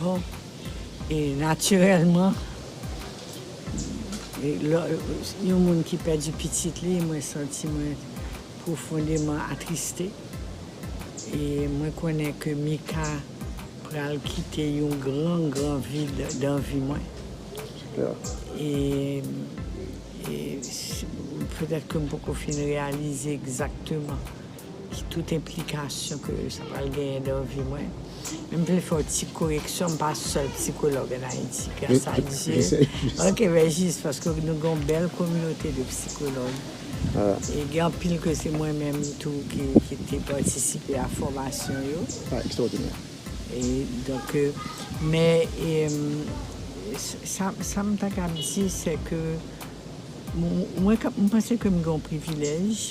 Bon, e natirèlman, yon moun ki pèdi pitit li, mwen santi mwen pwofondeman atriste. E mwen konnen ke Mika pral kite yon gran, gran vid dan vi mwen. E petèt ke m poko fin reyalize egzakteman. Ki tout enplikasyon ke sa pral genyen dan vi mwen. Men m vle fè yon ti koreksyon, m pa sèl psikològ an Ayiti, gras a Dye. Ok, men jis paske nou gen yon bèl kominote de psikològ. E gen anpil ke se mwen menm tou ki te patisipe a fòmasyon yo. Sa ekstwòdinè. E donk, men sa m ta kab di se ke mwen panse ke m gen yon privilèj.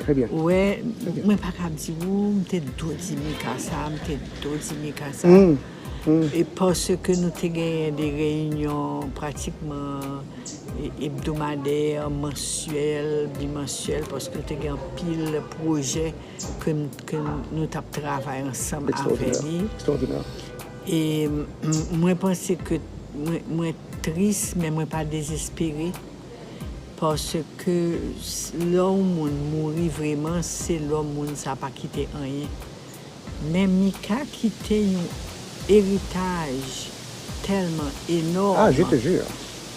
Très bien. Ou wè, mwen pa ka di ou, m te do di Mika sa, m te do di Mika sa. E paske nou te genyen de reyinyon pratikman ebdomadè, mansyèl, bimansyèl, paske nou te gen anpil pwojè ke nou t ap travay ansanm avè li. Ekstraòdinè. E mwen panse ke mwen tris, men mwen pa dezespere. Paske lè yon moun mouri vreman se lò moun sa pa kite anyen. Men Mika kite yon eritaj tèlman enòm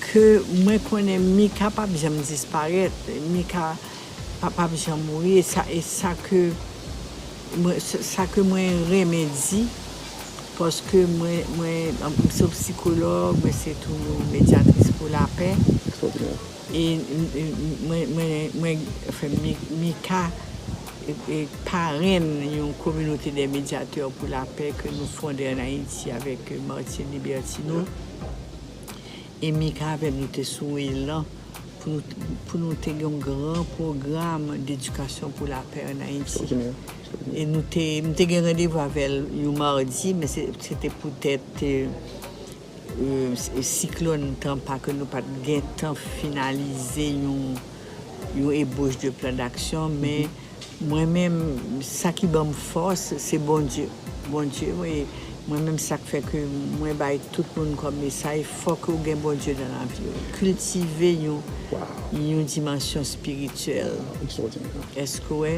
ke mwen konnen Mika pap janm disparèt. Pa pap janm mouri e sa e sa ke mwen sa ke mwen renmen di paske mwen mwen m se yon psikològ mwen se tou yon medyatris pou lapè e mwen mwen mwen anfen Mika e parenn yon kominote dè medyatè pou lapè ke nou fonde an Ayiti avèk Martier Libertino E Mika avèm nou te sou elan pou nou te gen yon gran pwogram d'edikasyon pou lapè an Ayiti. E nou te, m te gen randevou avèl yon mardi, men se te poutèt siklòn Tampa ke nou pat gentan finalize yon ebauche de plan d'action, men. Mwen menm sa ki banm fòs se Bondye Bondye mwen menm sak fè ke mwen bay tout moun kòm mesaj fòk ou gen Bondye nan laviw kiltive yon yon dimansyon spirityèl èske wè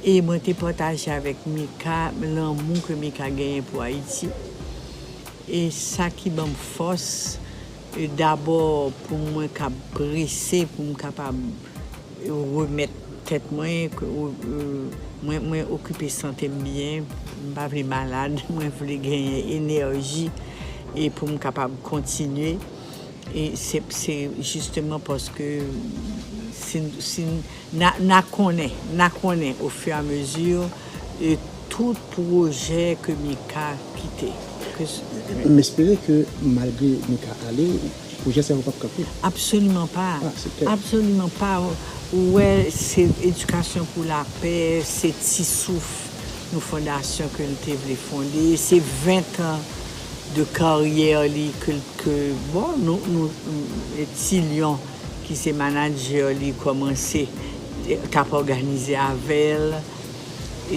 e mwen te pataje avèk Mika lanmou ke Mika genyen pou Ayiti e sa ki banm fòs. Dabò pou mwen kab prese pou m kapab remèt tèt mwen, mwen okipe sante m byen, m pa vle malad, mwen vle genyen enèji e pou m kapab kontinye. Se jisteman paske si n. N a konnen, n a konnen o fur a mesure e tout pwojè ke Mika kite. M espere ke malgre Mika ale, pwojè sa yo pap kanpe. Absoliman pa, absoliman pa. Ou wè se Edikasyon pou lapè, se ti souf yon fondasyon ke l te vle fonde. Se 20 tan de karyè li ke, bon, nou ti lyon. ki se manadjè li kòmanse t ap òganize avè l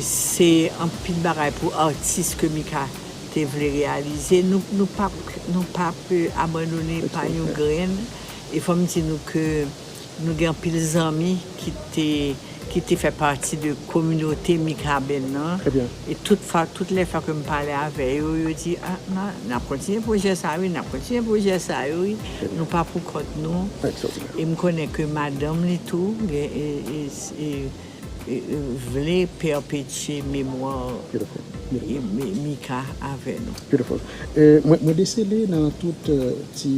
se anpil bagay pou atis ke Mika te vle reyalize nou p ap nou p ap abandone pa yon grenn e fò m di nou ke nou gen anpil zanmi ki te. ki te fè pati de kominote Mikaben nan, e tout fwa, tout lè fwa ke m pale avè yo, yo di, a, ma, n ap kontinye pwojè sa wi, n ap kontinye pwojè sa yo wi, nou pa pou kont nou, e m konnen ke madanm li tou, gen, e, e, e, e, e vle pèpetye memwa Mika avè nou. Beautiful. E, mwen, mwen desele nan tout ti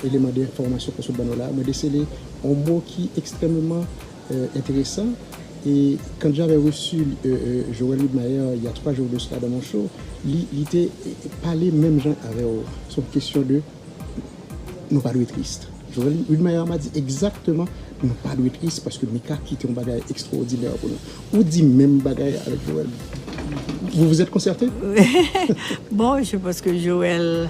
eleman de enfòmasyon ke w sot ban nou la, mwen desele yon mo ki ekstrèmeman. intéressant et quand j'avais reçu Joël Widmaier il y a 3 jours de cela dans mon show li li te pale menm jan avè'w sou kesyon de nou pa dwe triste Joël Widmaier m'a dit exactement nou pa dwe triste paske Mika kite yon bagay extraordinaire pou nou ou di menm bagay avèk Joël vous vous êtes concerté? Bon je pense que Joël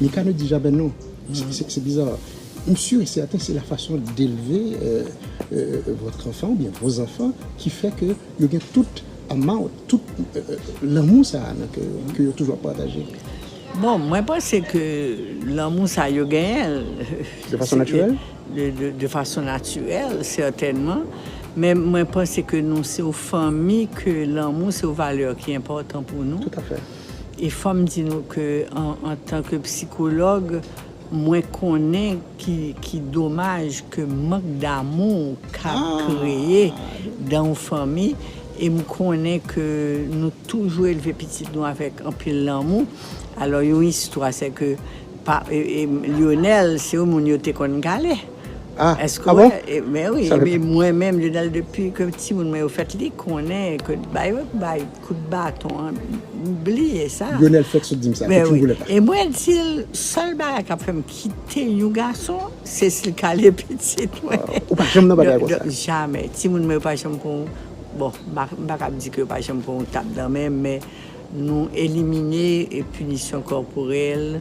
Mikano di jaben nou se biza. M sur et certain se la fason delve votre enfant ou byen vos enfants ki fè ke yo gen tout amount, tout lanmou sa a nan kè yo, ke yo toujou ap pataje. Bon, mwen panse ke lanmou sa a yo genyen. De fason natirèl? De fason natirèl, sètènman. Men mwen panse ke nou se yon fanmi ke lanmou se yon valè ki enpòtan pou nou. Tout a fè. E fòm di nou ke antan ke psikològ mwen konnen ki domaj ke mank damou ka kreye dan yon fanmi e m konnen ke nou toujou elve pitit nou avèk anpil lanmou alò yon istwa se ke Lyonel se yon moun yo te konn gale eske wè mwen menm Lyonel depi ke timoun mwen yo fèt li konnen ke bay yo bay. Kout baton an m bliye sa. Lyonel fèk sot dim sa, te fin volè pa. E mwen dil sèl bagay kap fèm kite yon gason se sil kale pitit mwen. Ou pa janm nan bagay konsa. Jamè, timoun mwen yo pa janm pran yon bon m pa kab di ke yo pa janm pran yon tap nan men men nou elimine pinisyon kòporèl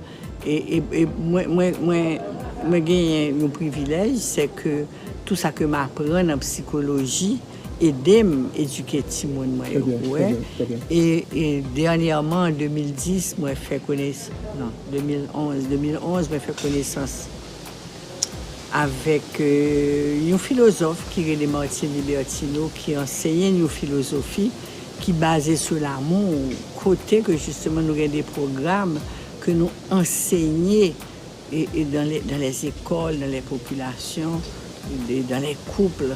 e mwen genyen yon privilèj se ke tou sa ke m aprann an psikoloji. edem edike timoun mwen yo pou wè e dènyèman an 2010 mwen fè kones non 2011 2011 mwen fè konesans avèk yon filozòf ki rele Martine Libertino ki anseye n yon filozofi ki baze sou lamou kote ke jisteman nou gen de pwogram ke nou ansenye dan lè dan lè zekòl dan lè popilasyon dan lè kouple.